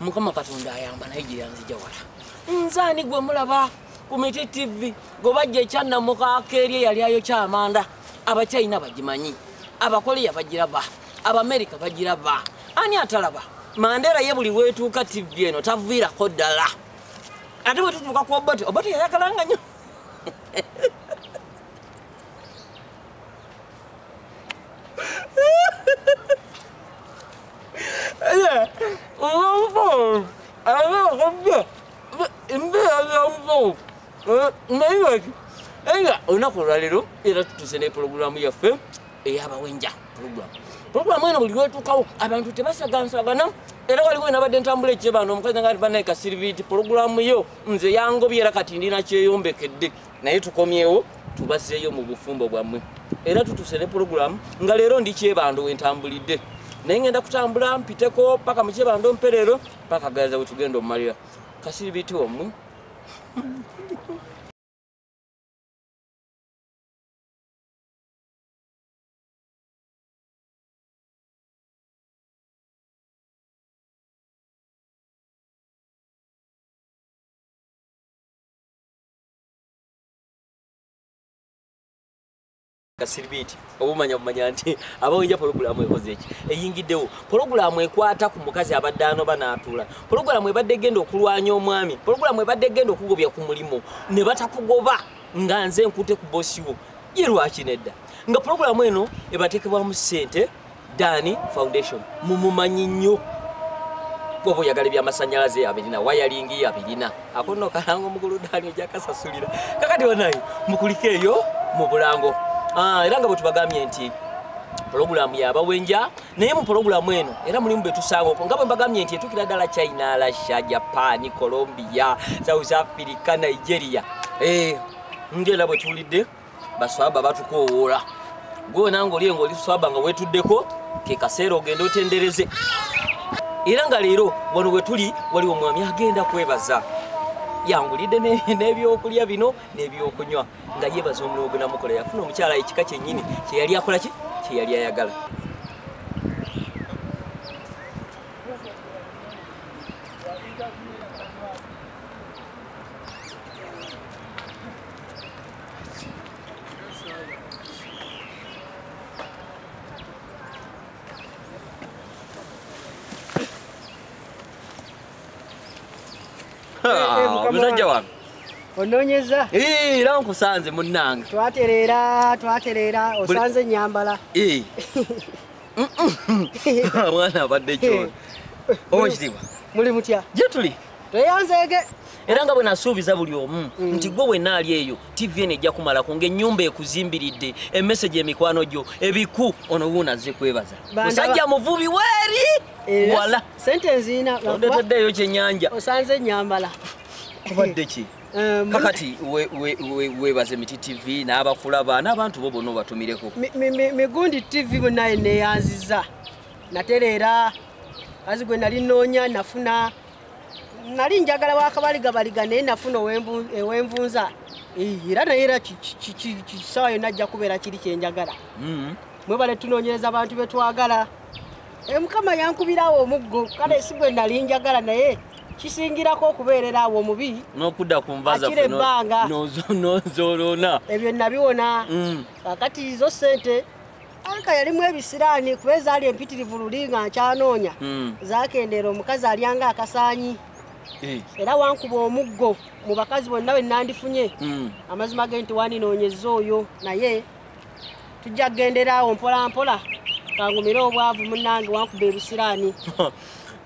mukama katonda ayamba naye gyeyanzija wala nze ani gwe mulaba ku miti tv gwe bajja ekyannamukaaka eri eyali ayokya amanda abakyayina bagimanyi abakoleya bagiraba abamerika bagiraba ani atalaba mandera ye buli wetuuka tv eno taviirako ddala ate bwetutuuka ku obote obote yayagalanga nyo nga olunaku olwaleero era tutuuse ne pulogulaamu yaffe eyabawenja pulogulaamu pulogulaamu eno buli lwetuukawo abantu tebasagansagana era waliwo nabadde ntambula ekyebano omukazi nga banaye kasiriviti pulogulaamu yo nze yangobye era kati ndina kyeyombekedde naye tukomyewo tubazeeyo mu bufumbo bwammwe era tutuse ne pulogulaamu nga leero ndi kyebando wentambulidde naye ngenda kutambula mpiteko paka mukyebando mperero paka gaza wetugenda omumalira kasiri biti omwe kasiribiti obumanya bumanya nti abawenja pologulaamu ekoze eki eyingiddewo pologulaamu ekwata ku mukazi abadde anoba n'atuula pologulaamu ebadde egenda okulwanya omwami pologulaamu ebadde egenda okugobya ku mulimu ne batakugoba nga nze nkute ku bosiwo ye lwaki nedda nga pologulaamu eno ebateekebwamu ssente dani foundation mumumanyi nnyo gwoba oyagala ebyamasanyalaze abirina wayalingi abirina akono kalanga omugulu dani ojakasasulira kakati banaye mukulika eyo mu bulango ah, era nga bwe tubagambye nti pulogulaamu yabawenja naye mu pulogulaamu eno era mulimu betusangaoko nga bwe mbagambye nti etukira ddala china russia japan colombia south africa nigeria eh, ngera bwe tuwulidde baswaba batukowoola gwewena ngaoli enga oli swaba nga wetuddeko kekaseera ogenda otendereze era nga leero wano wetuli waliwo omwami agenda kwebaza yangulidde n'ebyokulya bino n'ebyokunywa nga yebaza omulimu gwenamukola yafuna omukyala ekika kyennyini kyeyali akola ki kyeyali ayagala omusajja wange ononyeza era nkusanze munnange twatereera twatereera osanze enyambala mwana abadde kyona oba ekitiibwa muli mutya gyetuli tweyanzeege era nga bwe nasuubiza buli omu mm. nti gwe wenna ali eyo tv eno ejja kumalako ng'ennyumba ekuzimbiridde emese gy'emikwano gyo ebiku ono wuuna azze kwebaza musajja muvubi weeri eh, wala sente eziina ondeteddeeyo kyennyanja osanze ennyambala obadde ki eh, kakati webaze miti tv n'abakulaba n'abantu bo bonna obatumireko migundi tv bunaye neyanziza natereera kazi gwe nali nnoonya nafuna nali njagala wakabaligabaliga naye nafuna ewenvunza era naye era kisawa yonna ajja kubeera kiri kyenjagala mm-hmm. mwebale tunoonyereza abantu betwagala eh, mukama yankubirawo omuggo kale si gwe nali njagala naye kisingirako okubeerera awo omubi nokudda kunvakira ebbanga nozolona ebyo nabiwona mm. kakati zo sente Anka yalimu ebisiraani kuba ezaali empitirivu luli nga nkyanoonya hmm. zakendeera omukazi alyanga akasaanyi eh. era wankuba omuggo mu bakazi bonna bwe nandifunye hmm. amazima ge nti wandinoonyeza oyo naye tujja kugendera awo mpolampola kangumire obwavu munange wankuba ebisiraani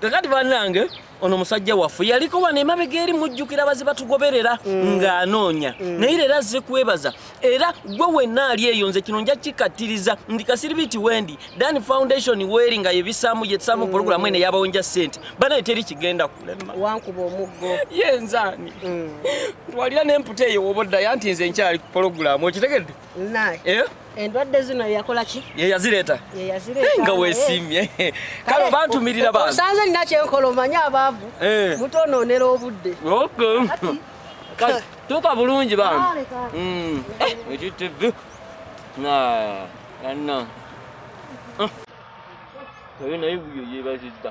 kakati banange ono musajja waffe yaliko wano emabega eri mujjukira baze batugoberera mm. ng'anoonya mm. naye leero azze kwebaza era gwe wenna ali eyo nze kino nja kikattiriza ndi kasiribiti wendi dan foundation weeri nga yebisaamu yetusaamu mm. pulogulamu ene yabawo nja ssente banaye teri kigenda kulema wankuba omuggo ye nzaani twalira n'emputa eyo woba oddayo anti nze nkyali ku pulogulamu okitegedde eh? endwadde zino yakola ki ye yazireeta ye yazireeta eh, nga wesimye eh. kale bantumirira ba sanze nina kyenkola omanyi abaavu eh. mutonoonera obudde okay kati tuka bulungi ba mm ekitv na anna Tabii ne bu yiyip ezizde.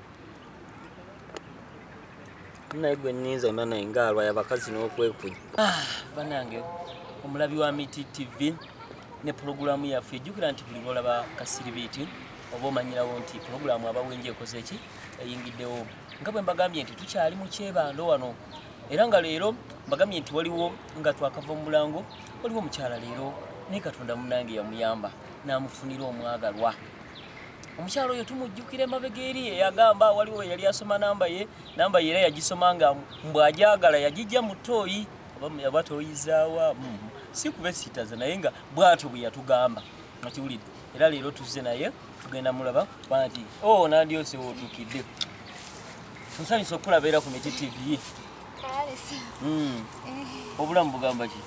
naye gwe ninza mba naye ngaalwa yabakazi n'okwekunya ah, banange omulabi wa miti tv ne pulogulaamu yaffe ejjukira nti buli lwolaba kasiribiiti oba omanyirawo nti pulogulaamu abawenja ekoze ki eyingiddewo nga bwe mbagambye nti tukyali mu kyebando wano era nga leero mbagambye nti waliwo nga twakava mu mulango waliwo omukyala leero naye katonda munange yamuyamba n'amufunira omwagalwa omukyalo oyo tumujjukira emabega eri eyagamba waliwo yali asoma namba ye namba ye era yagisoma nga mbwajagala yagijja mu tooyi aba toyizaawa mm. si kubesitaza naye nga bwatyo bwe yatugamba akiwulidde era leero tuzze naye tugenda mulaba kubanga nti o oh, nandyosewo otuukidde nsanyusa okukulabeera ku miti tv Hmm. Eh. obulamu bugamba ki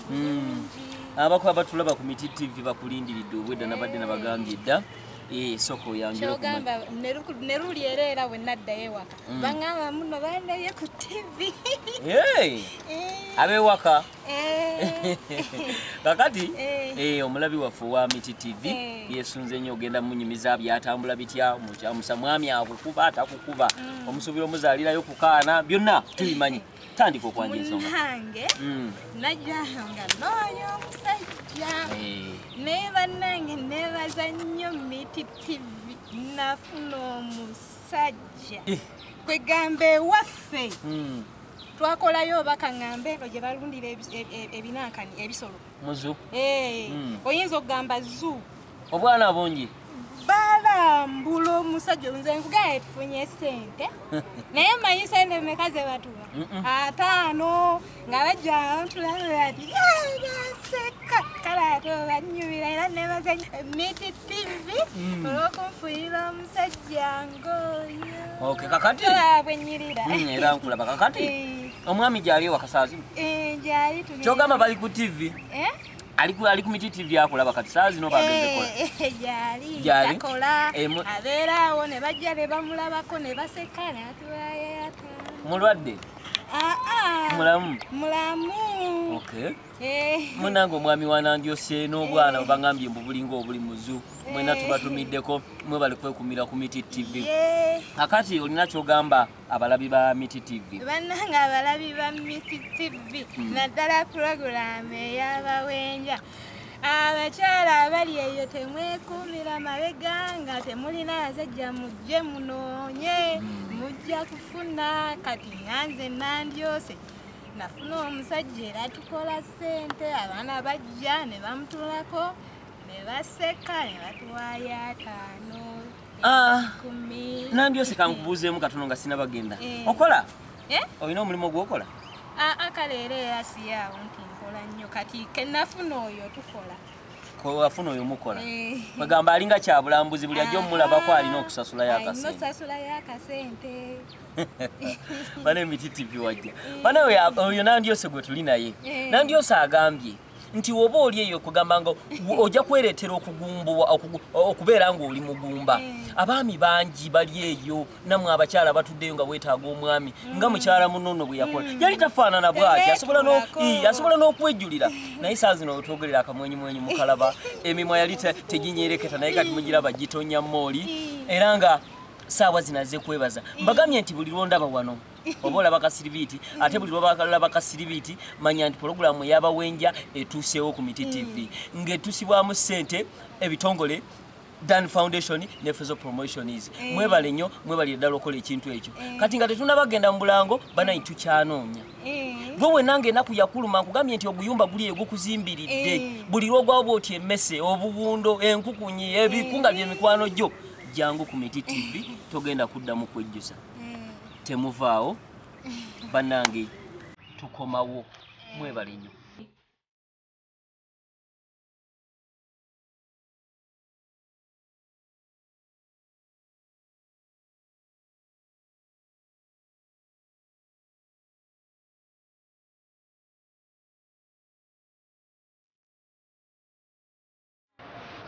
hmm. abako abatulaba ku miti tv bakulindiridde obwedda nabadde nabagambye dda eh, soko oyanjkyogamba neruli era era wenaddayo ewaka hmm. baŋamba muno bandaye ku tv eh. abewaka Eh. kakati eh. Eh, omulabi waffe owa miti tv yesunze nnyo ogenda munyumiza byatambula bitya mukyamusa mwami akukuba atakukuba mm. omusuubira omuzaalirayo kukaana byonna tubimanyi tandika okwanja ensonga mm. najanga nooyo omusajja naye bannange nebaza nnyo miti tv nafuna omusajja kwegamba ewaffe mm. twakolayo oba kaŋŋambe eno gye balundira ebinankani ebisolo muzu hmm. oyinza okugamba zu obwana bungi balambula omusajja nze nkugaa etufunye sente naye manyi sente meka ze batuwa ataano nga bajja ntulabati baseka kale ate obanyumira era nebazanya emiti tivi mm. olwokunfuyira omusajja Okay, kakati. Tolaba bwe nnyirira. Mm, era nkulaba kakati. Eh. Omwami gyali wakasaazi. Eh, gyali tuli. Kyogamba bali ku TV. Eh? Ali ku ali ku miti TV akulaba kati saa zino bagende kola. Eh, eh, gyali. Gyali. Akola. Eh, Abeera awo ne bajja ne bamulabako ne baseka ne atulaye ata. Mulwadde. Ah ah. Mulamu. Mulamu. Okay. Eh. munange omwami wanandyose n'obwana eh. obangambye mbu bulinga obuli muzu eh. mwena tubatumiddeko mwe bali kwekumira ku miti tv akati olina kyogamba abalabi ba miti tv banange abalabi ba miti tv hmm. naddala puroguramu eyabawenja abakyala abali eyo temwekumira mabega nga temulina azajja mujje munoonye hmm. mujja kufuna kati nganze nandyose nafuna omusajja era tukola ssente abaana bajja ne bamutulako ne baseka ne batuwaayo ataano ah, nambi oseka nkubuuzeemu katono nga sina bagenda eh. okola eh? olina omulimu ogwokola ah, ah, kale era era siyaawo nti nkola nnyo kati kenafuna oyo tukola kwewafuna oyo mukola eh. kwegamba alinga kyabulambuzi buli ajja omulabako alina okusasula yakasente bana emiti tivi wajja bana oyo nandyose gwe tuli naye eh. nandyose agambye nti woba oli eyo okugamba nga ojja kwereetera okugumbuwa okubeera ng'oli mugumba eh. abaami bangi bali eyo namwe abakyala batuddeyo nga bwetaaga omwami mm. nga mukyala munono bwe yakola mm. yali tafaanana bwati asobola n'okwejjulira naye saa zino wetwogerera akamwenyumwenyu mukalaba emimwa yali teginyereketa naye kati mugiraba gitonnya mooli era nga saawa zinaze kwebaza mbagambye nti buli lwondaba wano oba olaba kasiribiiti ate buli lwabalaba kasiribiiti manya nti pologulaamu eyabawenja etuuseewo ku miti tv mm. ng'etusibwamu ssente ebitongole dan foundation ne fezo promotion is eh. mwebale nnyo mwebalire ddala okola ekintu ekyo eh. kati nga tetunabagenda mu bulango banayi tukyanoonya eh. gwe wenanga enaku yakuluma nkugambye nti oguyumba guli egukuzimbiridde buli lwogwawo bwoti emmese obuwundo enkukunyi ebikunga byemikwano gyo jangu ku miti tv togenda kuddamu kwejjusa mm. temuvaawo banange tukomawo mwebale nnyo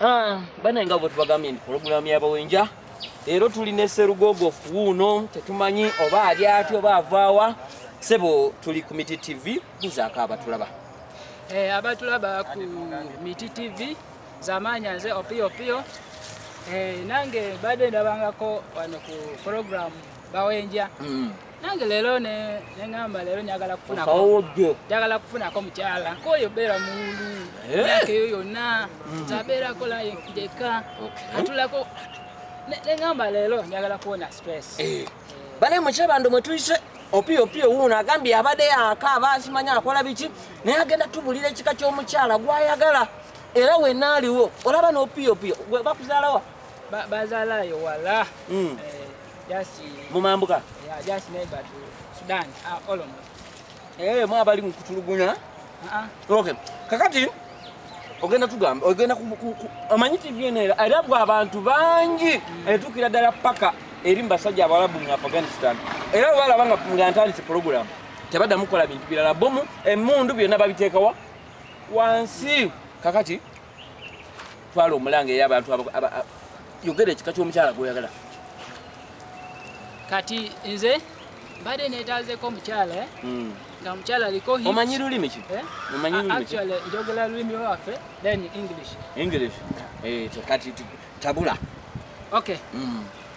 Ah, banaye nga bwetubagambye nti pulogulaamu yabawenja era tuli ne serugogo wuuno tetumanyi oba ali ati oba avaawa sebo tuli ku miti tv buzaako abatulaba eh, abatulaba ku miti tv zamanya nze opiyopiyo eh, nange badde ndabangako wano ku pulogulaamu bawenja mm. nange leero neŋamba leero njagala kufunanjagala kufunako mukyala koyo beera muulu eh? myaka eyo yonna hmm. tabeerako lajeka atulako neŋamba leero njagala kuwona stress eh. Eh. bale mukyabando mwetuyise opiyo opiyo wuuno agambye abadde yaka aba akimanya akola biki naye agenda tubulira ekika ky'omukyala gwayagala era wenna aliwo olaba n'opiyo opiyo bakuzaalawa bazalayo wala hmm. Just uh, mumambuka. Yeah, just neighbor to Sudan. Ah, uh, Olombo. Eh, mwa bali mkutulugunya. Ah. Uh -uh. Okay. Kakati ogenda tugamba ogenda amanyi tv eno era erabwa abantu bangi mm. etuukira ddala paka eri mu basajja abalabu mu afghanistan era balaba nga nga ntandise pulogulamu tebaddamu kukola bintu birala bomu emundu byonna babiteekawa wansi kakati twala omulanga eyo abantu yogera ekika ky'omukyala gwoyagala kati nze mbadde netazeko omukyala eh? hmm. nga omukyala aliko omanyi lulimi ki eh? omanyi lulimi ki njogera lulimi lwaffe then english english eh, kati tabula okay hmm.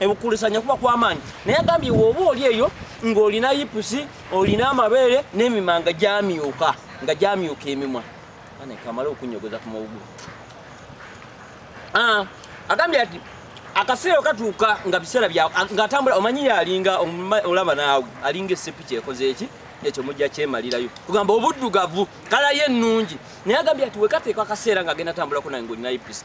ekukulisanya kuba kwamaanyi naye agambye woba oli eyo ng'olina yipusi olina amabeere n'emimanga gyamyuka nga gyamyuka emimwa anekamala okunyogoza ku mawugulu ah, agambye ati akaseera okatuuka nga biseera ngaatambula omanyi yalinga olaba naawe alinga esepi kyekoze eki ekyo mujja kyemalirayo kugamba obuddugavu kalayo ennungi naye agambye ati wekateeka akaseera nga agenda tambulako nange olina yipisi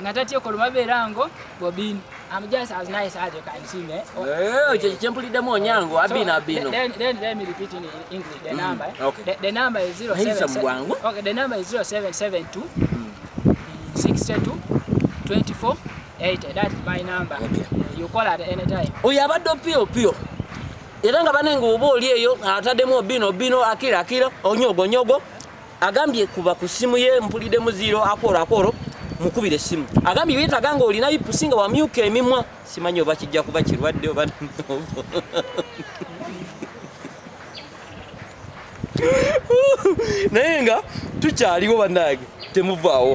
nga tatyeko lubabeera ngo bobin am just as nice as you can see me oh. eh, ekyo kyempuliddemu onyango abino abino the number is 0772 62 24 80 that is my number okay. you call at any time oyo abadde opio opio era nga bane nga oba oli eyo atademu obino obino akira akira onyogo nyogo agambye kuba ku simu ye mpulide muziro akoro akoro mukubire simu agambye yetaga nga olina ipusi nga wamyuka emimwa simanyi oba kijja kuba kirwadde oba naye nga tukyaliwo banange temuvaawo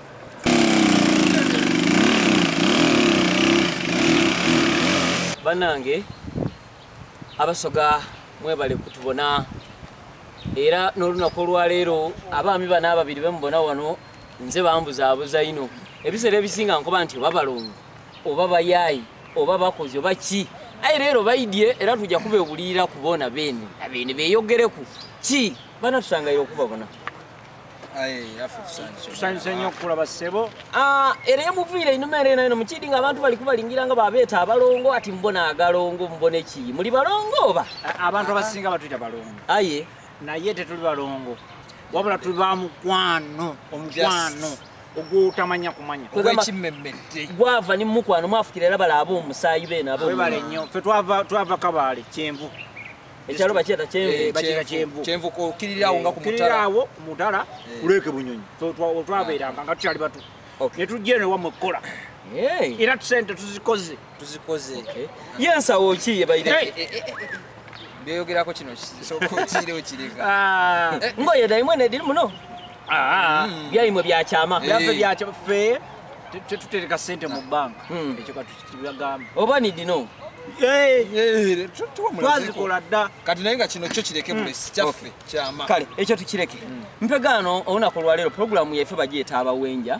banange abasoga mwebale kutubona era n'olunaku olwaleero abaami bano ababiri bemubona wano nze bambuzaabuza ino ebiseera ebisinga nkuba nti oba balongo oba bayaayi oba bakozi oba ki aye leero baidye era tujja kubewulirira kubona beene abeene beyogereku ki bana tusangaire okubabona tusanyuse nnyo okukulaba ssebo ah, era emuviire einuma era enaino mukidi nga abantu bali kubalingira nga babeeta abalongo ati mbona agalongo mbone ki muli balongo oba abantu abasinga batuyita balongo aye naye tetuli balongo wabula tuli ba mukwano omukwano ogwotamanya kumanya owekimmemmedde gwava ni mukwano mwafukira era balaaba omusaayi beena webale nnyo fe twava kabaale kyenvu ekyalo bakiyata eh, kyenvubakiyata kyenvu kyenvu okirira awo nga kumutala awo kumutala kuleke eh. bunyonyi twabeeranga nga tukyali batu ne tujja eno ewamu ekkola era tusente tuzikoze tuzikoze ye ensawo ki yebaire byoyogerako kino kisookotire okireka ah. ngoye daimwe nediri muno ah. mm. byaimwe byakyama byaffe byakyama ffe tetutereka sente mu banka hmm. ekyo oba nidino eh, eh, twazikola dda kati naye nga kino kyo kireke hmm. bulesi kyaffe kyama kale ekyo tukireke hmm. mpegaano olunaku olwaleero pulogulaamu yaife bagiyeta abawenja